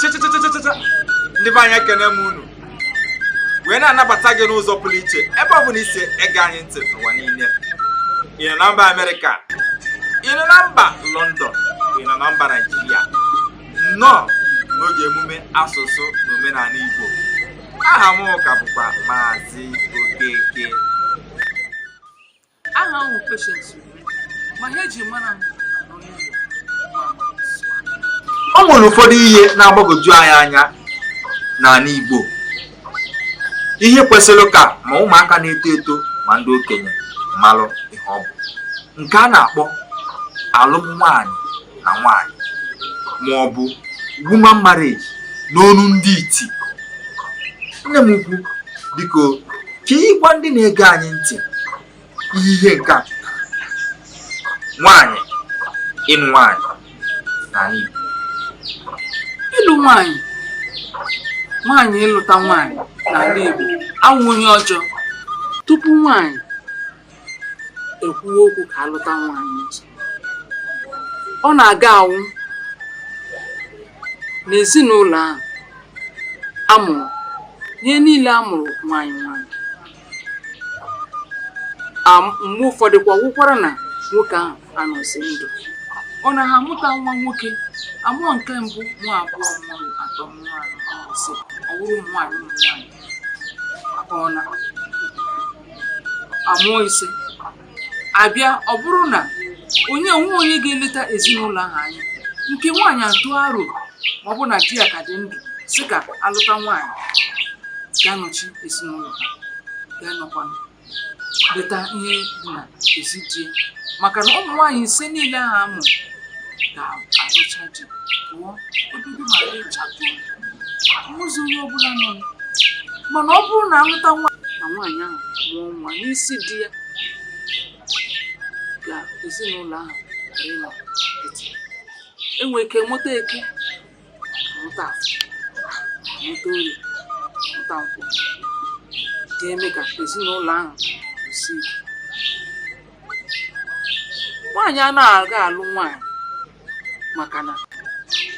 chịchịchịchịchịcha ndị be anyị ekene m unu wee na-anabata gị n'ụzọ pụrụ iche ebe ọ bụla i si ege anyị ntị n'ụwa niile ị nọ na mba amerịka ị nọ na mba lọndọn ị nọ na mba naijiria nnọọ n'oge emume asụsụ na omenala Igbo aha m ka bụkwa Maazị Okeke aha m bụ Patience Ure ma aha e ji mara m nọ n'ụlọ ma m sụọ. o nwere ụfọdụ ihe na-agbagwoju anyị anya n'ala Igbo ihe kwesịrị ka ma ụmụaka na-eto eto ma ndị okenye malụ ihe ọ bụ nke a na-akpọ alụm nwaanyị na nwaanyị ma ọ bụ woman marriage n'onu ndị iti nne m ukwu biko ka ị gwa ndị na-ege anyị ntị ihe ihe nke a nwaanyị ịlụ nwaanyị n'ala Igbo ịlụ nwaanyị nwaanyị ịlụta nwaanyị n'ala Igbo awụghị ihe ọjọọ tupu nwaanyị ekwuwe okwu ka a lụta nwaanyị ọ na-aga awụ n'ezinụlọ ahụ a mụrụ ihe niile a mụrụ nwaanyị nwaanyị mgbe ụfọdụ kwa wụkwara na nwoke ahụ anọzi ndụ ọ na ha amụta nwa nwoke a mụọ nke mbụ nwa abụọ nwa atọ nwa anọ nwa ise ọ bụrụ ụmụ nwaanyị ụmụ nwaanyị ọ na a mụọ ise a bịa ọ bụrụ na onye o nweghị onye ga-eleta ezinụlọ ahụ anya nke nwaanyị atụ aro ma ọ bụ na di ya ka dị ndụ sị ka a lụta nwaanyị ga-anọchi ezinụlọ ha ga-anọkwa leta ihe dị na ezi di ya maka na ụmụ nwaanyị ise niile ahụ a mụ ga-alụcha di pụọ ebe gị ma gị chatuo ahụzi onye ọ bụla nọ mana ọ bụrụ na a lụta nwaanyị ahụ mụọ nwa n'isi di ya ka ezinụlọ ahụ ghara ịnọ e nwere ike mụta eke mụta afọ mụta orie mụta nkwọ ga-eme ka ezinụlọ ahụ si ike nwaanyị anaghị aga alụ nwaanyị maka na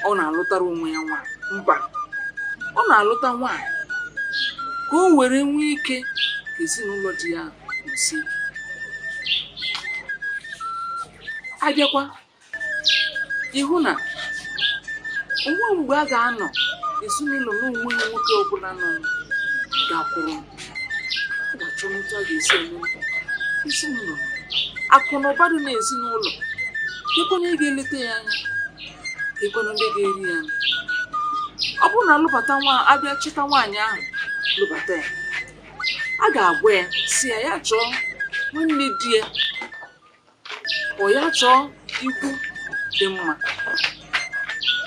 ọ na-alụtara onwe ya nwaanyị mba ọ na-alụta nwaanyị ka o were nwee ike ka ezinụlọ di ya si ike a bịakwa ị hụ na o nwe mgbe a ga-anọ ezinụlọ na-enweghị nwoke ọbụla nọ gakwuru ga-achọ otu a ga-esi eme ezinụlọ akụ na ụba dị na ezinụlọ ekwenye ị ga-eleta ya anya ekwenye ndị ga-eri ya anya ọ bụrụ na a lụbata nwa a bịa chịta nwaanyị ahụ lụbata ya a ga-agwa ya sị ya ya chọọ nwanne di ya ọ ya chọọ ikwu dị mma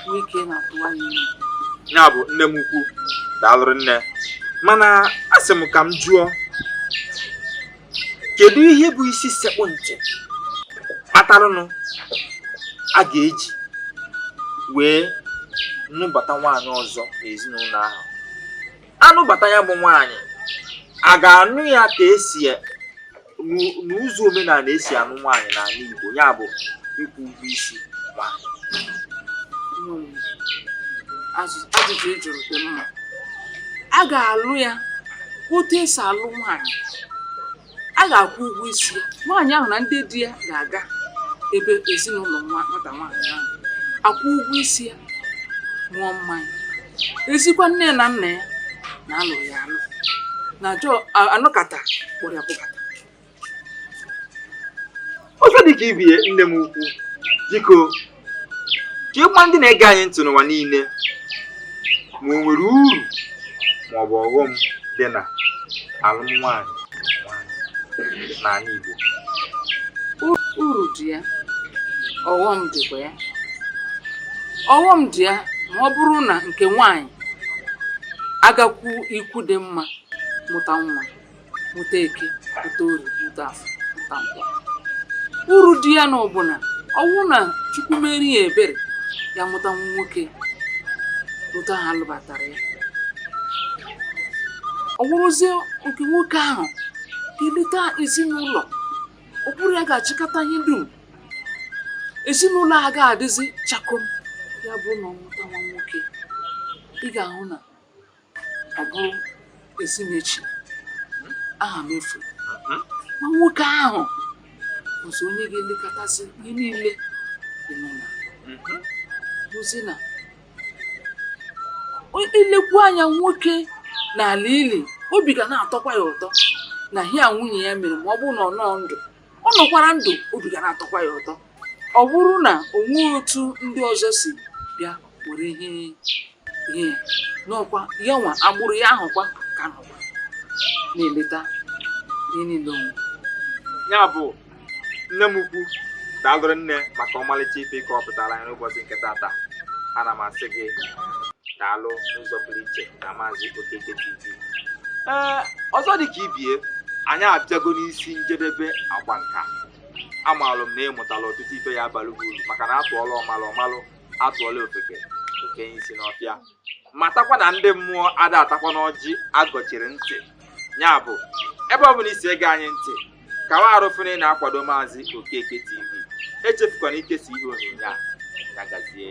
nwee ike na-atụwa ya ime ya bụ nne m ukwu daalụ rinne mana asị m ka m jụọ kedu ihe bụ isi sekpu ntị kpataranụ a ga-eji wee nụbata nwaanyị ọzọ n'ezinụlọ ahụ a nụbata ya bụ nwaanyị a ga-anụ ya ka esi n'ụzọ omenala esi anụ nwaanyị n'ala Igbo ya bụ ịkwụ ụgwọ isi ma ajụjụ ị jụrụ dị mma a ga-alụ ya otu esi alụ nwaanyị a ga-akwụ ụgwọ isi ya nwaanyị ahụ na ndị di ya ga-aga ebe ezinụlọ nwata nwaanyị ahụ akwụ ụgwọ isi ya ṅụọ mmanya e zikwa nne na nna ya na a lụ ya alụ na jọ anọkata kpọrọ ya kpọkata ọzọ dị ka ibe ya nne m ukwu biko ka ị gwa ndị na-ege anyị ntị n'ụwa niile ma o nwere uru ma ọ bụ ọghọm dị na alụm nwaanyị n'ala Igbo uru dị ya ọghọm dịkwa ya ọghọm dị ya ma ọ bụrụ na nke nwaanyị agakwu ikwu dị mma mụta nwa mụta eke mụta orie mụta afọ mụta nkwọ uru dị ya na ọ bụ na ọ wụ na chukwu meere ya ebere ya mụta nwa nwoke otu ha lụbatara ya ọ wụrụzie nke nwoke ahụ ga-eleta ezinụlọ ọ bụrụ ya ga-achịkọta ihe dum ezinụlọ agaghị adịzi chakoo ya bụ na ọ mụta nwa nwoke ị ga-ahụ na ọ bụ ezi m echi aha m efu hmm? nwa nwoke ahụ bụzi onye ga-elekọtazi ihe niile dị n'ụlọ hmm? bụzi na i lekwu anya nwoke n'ala ili obi ga na-atọkwa ya ụtọ na ihe a nwunye ya mere ma ọ bụrụ na ọ nọ ndụ ọ nọkwara ndụ obi ga na-atọkwa ya ụtọ ọ bụrụ na o nweghị otu ndị ọzọ si bịa were ihe ihe ya n'ọkwa ya nwa agbụrụ ya ahụkwa ka nọkwa na-eleta ihe niile o nwe ya bụ nne m ukwu daalụ rinne maka ọmalịcha ife ị kọpụtara anyị n'ụbọchị nke tata ana m asị gị daalụ n'ụzọ pụrụ iche na maazị Okeke TV ee ọzọ dị ka ibie anyị abịago n'isi njedebe agba nka amaalụ m na ị mụtala ọtụtụ ife ya-abalị gị uru maka na atụọla ọmalụ ọ malụ atụọla ofeke o fenye isi n'ọfịa matakwa na ndị mmụọ ada atakwanụ ọjị agọchiri ntị ya bụ ebe ọ bụla i si ege anyị ntị kawa arụfere na-akwado maazị okeke tv echefukwana ikesa ihe onyonyo a ya gazie